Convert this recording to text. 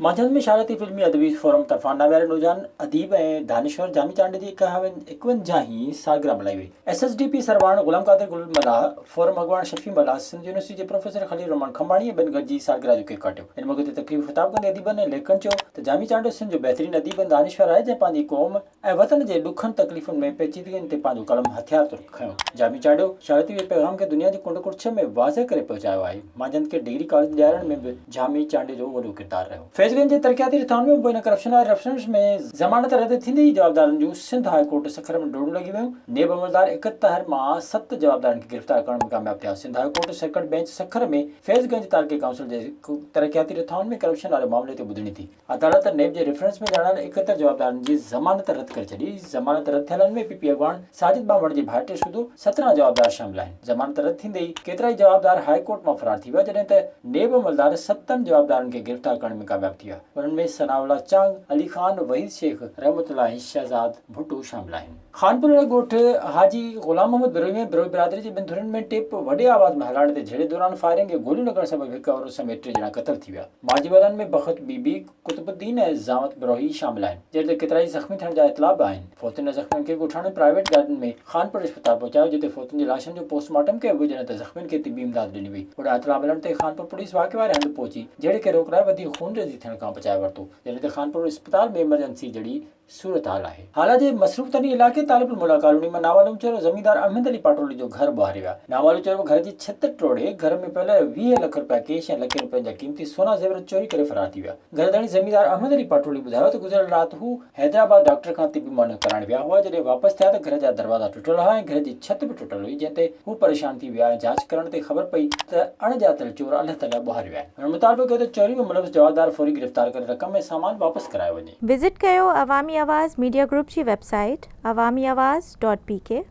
مانجهند ۾ شارعتي فلمي ادبي فورم طرفان ناوياري نوجوان اديب ۽ دانشور جامي چانڊ جي اڪونجاهين سالگرهه ملهائي وئي. S S D P Sarwan Ghulam Qadir Gul Mallah, forum اڳواڻ شفيع ملاح، سنڌ يونيورسٽي جي پروفيسر خليل الرحمان کنڀاڻي ۽ ٻين گڏجي سالگرهه جو ڪيڪ ڪاٽيو. ان موقعي تي تقريب خطاب ڪندي اديبن ۽ ليکڪن چيو ته جامي چانڊ سنڌ جو بهترين اديب ۽ دانشور آهي جنهن پنهنجي قوم ۽ وطن جي ڏکن تڪليفن ۾ پيچيدگين تي پنهنجو قلم هٿيار طور کنيو، جامي چاڙهيو، شاعريت جي پيغام کي دنيا جي ڪنڊ ڪڙڇي ۾ واضح ڪري پهچايو آهي. مانجهند کي ڊگري ڪاليج ڏيارڻ ۾ به جامي چانڊيو جو وڏو ڪردار رهيو. فيض گنج جي ترقياتي رٿائن ۾ مبينا ڪرپشن آئي رفرنس ۾ ضمانت رد ٿيندي ئي جوابدارن جون سنڌ هاء ڪورٽ سکر ۾ ڊوڙون لڳي ويون، نيب عملدار اڪهتر مان ست جوابدارن کي گرفتار ڪرڻ ۾ ڪامياب ٿيا، Sindh high court circuit bench Sukkur ۾ Faiz Ganj تعلقي ڪائونسل جي ترقياتي رٿائن ۾ ڪرپشن واري معاملي تي ٻڌڻي ٿي. عدالت نيب جي ريفرنس ۾ ڄاڻايل اڪهتر جوابدارن جي ضمانت رد ڪري ڇڏي، ضمانت رد ٿيلن ۾ پي پي اڳواڻ ساجد ٻانڀڻ جي ڀائٽي سوڌو سترهن جوابدار شامل آهن، ضمانت رد ٿيندي ئي ڪيترائي جوابدار هاء ڪورٽ مان فرار ٿي ويا جڏهن ته نيب عملدار ستن جوابدارن کي گرفتار ڪرڻ ۾ ڪامياب ٿي ويا، انهن ۾ ثناء الله چانگ، علي خان، وحيد شيخ، رحمت الله ۽ شهزاد ڀٽو شامل آهن. خانپورڙي ڳوٺ حاجي غلام محمد بروهي ۾ بروهي برادري جي ٻن ڌرين ۾ ٽيپ وڏي آواز ۾ هلاڻ تي جهيڙي دوران فائرنگ ۽ گوليون لڳڻ سبب هڪ عورت سميت ٽي ڄڻا قتل ٿي ويا. مارجي وارن ۾ بخت بي بي، قطب الدين ۽ زعمت بروهي شامل آهن، جڏهن ته ڪيترائي زخمي ٿيڻ جا اطلاع به آهن. فوتين ۽ زخمين کي ڳوٺاڻن پرائيويٽ گاڏين ۾ خانپورڙي اسپتال پهچايو، جتي فوتين جي لاشن جو پوسٽ مارٽم ڪيو ويو جڏهن ته زخمين کي طبي امداد ڏني وئي. هوڏانهن اطلاع ملڻ تي خانپور پوليس واقعي واري هنڌ پهچي جهيڙي کي روڪڻ لاء وڌيڪ خونريزي ٿيڻ کان بچائي ورتو، جڏهن ته خانپور اسپتال ۾ ايمرجنسي جڙي صورتحال آهي. هالا جي مصروف ترين علائقي طالب الملا ڪالوني مان ناوالو چيرو زميندار احمد علي پاٽولي جو گهر ٻهاري ويا. ناوالو چيرو گهر جي ڇت ٽوڙي گهر ۾ پيل ويهه لک رپيا ڪيش ۽ لکين رپين جا قيمتي سونا زيورات چوري ڪري فرار ٿي ويا. گهر ڌڻي زميندار احمد علي پاٽولي ٻڌايو ته گذريل رات هو حيدرآباد ڊاڪٽر کان طبي معائنو ڪرائڻ ويا هئا جڏهن واپس ٿيا ته گهر جا دروازا ٽٽل هئا ۽ گهر جي ڇت به ٽٽل هئي جنهن تي هو پريشان ٿي ويا ۽ جاچ ڪرڻ تي خبر پئي ته اڻ ڄاتل چور الهه تلهه ٻهاري ويا آهن. هن مطالبو ڪيو ته چوري جو ملوث جوابدار فوري گرفتار ڪري رقم ۽ سامان واپس ڪرايو وڃي. وزٽ ڪيو عوامي آواز ميڊيا گروپ جي website Awami Awaz dot P ڪي.